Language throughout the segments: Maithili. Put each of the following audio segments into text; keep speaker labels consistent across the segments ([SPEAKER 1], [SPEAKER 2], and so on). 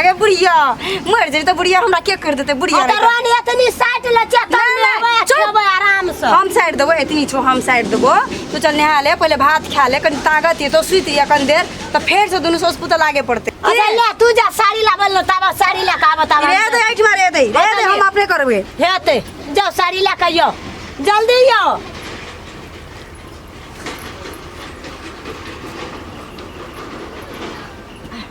[SPEAKER 1] अरे बुढ़िया मर जेतै तऽ बुढ़िया हमरा के कर देतै बुढ़िया अरे रहितै। रानी एतनी साइड ले चेक कर नहीं, लेबै नहीं, चुप। खेबै आराम से हम साइड देबो एतनी छो हम साइड देबो तू चल नहा ले पहिले भात खा ले कनी ताकत ये तो सुत ये कनी देर तो फेर से दुनू सोच पुतल आगे पड़ते अरे ले तू जा साड़ी लाबल न ताबा साड़ी ले का बताब रे दे आइठ मारे दे रे दे हम अपने करबे हेते जाओ साड़ी ले के यो जल्दी यो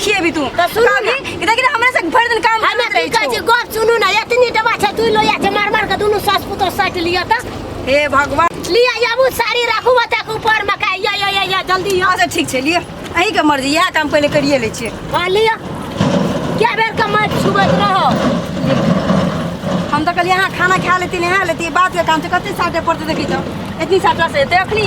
[SPEAKER 1] खिए भी तू तब सुनू ना। कि देखी ना हमरा से भर दिन काम हमे करत की रही कहै छी छौ। गप सुनू ना एतनी डबा छै तू लोया छै मार मार के दुनू सास पुतोह साटि लिअ त हे भगवान लिअ याबू साड़ी राखू बच्चाक ऊपर मे का या या या या जल्दी या अच्छा ठीक छै लिए अही के मर्जी इएह काम पहिले करिए लै छियै हाँ लिअ क्या बेर के माटि छुबैत रहो हम तऽ कहलियै अहाँ खाना खा लेती नहा लेती बात के काम छै कते साटे पड़तै देखी तऽ एतनी साटा से एतै अखनी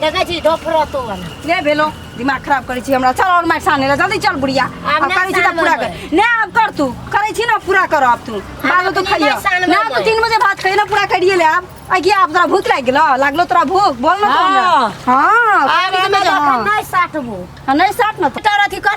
[SPEAKER 1] देखै छी ढोफरो तो वाला ले भेलो दिमाग खराब करै छी हमरा चल और माइट साने ला जल्दी चल बुढ़िया आब अब नहि करै छी त सानब पूरा हम। कर ने अब कर तू करै छी ना पूरा कर अब तू बालो तो अपने खइया नहि सानब ना हम। तो तीन बजे भात खइया ना पूरा करिए ले अब आ कि अब तोरा भूख लाग गेलो लागलो तोरा भूख बोल ना तू हमरा हाँ। हां आब ई हमरा में जा। देखै नै साटबो हां नहीं साट ना तो तोरा अथी कर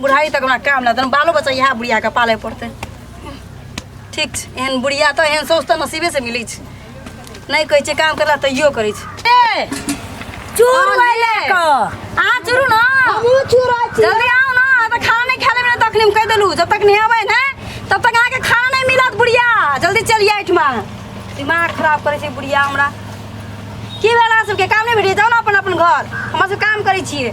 [SPEAKER 1] बुढ़ारी तक हमरा काम नहि देन बालो बच्चा इएह बुढ़ियाके पालय पड़तै ठीक छै एहन बुढ़िया तऽ एहन सौस तऽ नसीबेसँ मिलै छै नहि कहै छै काम करला तैयो करै छै ए, चूर अहाँ भइले। ले कऽ। अहाँ चुरू ने हमहूँ चूरा छी जल्दी आउ ने अहाँ तऽ खाना नहि खा लेबै ने तखनी हम कहि देलहुँ जब तक नहेबै ने तब तक अहाँके खाना नहि मिलत बुढ़िया जल्दी चलि आइ ठमा दिमाग खराब करै छै बुढ़िया हमरा की भेल अहाँ सबके काम नहि भेटैए जाउ ने अपन अपन घर हमर सब काम करै छियै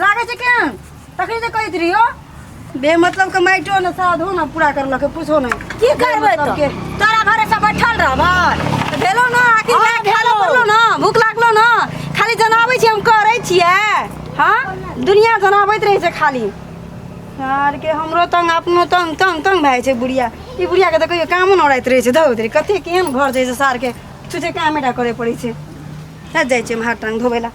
[SPEAKER 1] लागे छै केहन तखनी तऽ कहैत रहियो बे मतलब के माइटो ने साधो ने पूरा करलक पूछो ने की करबै मतलब तो के तोरा भरोसा बैठल रहबै तऽ भेलो ने आखिर हाँ, लायक खालो भेलो। पड़लो ने भूख लागलो ने खाली जनाबै छी हम करै छियै हाँ दुनिया जनाबैत रहै छै खाली यार के हमरो तंग अपनो तंग तंग तंग भए जाइ छै बुढ़िया ई बुढ़िया के तऽ कहियो कामो नहि रहैत रहै छै धौ कते केहन घर छै सार के छुछे कामे टा करे पड़ै छै जा जाइ छियै हम हाथ टांग धोबै लए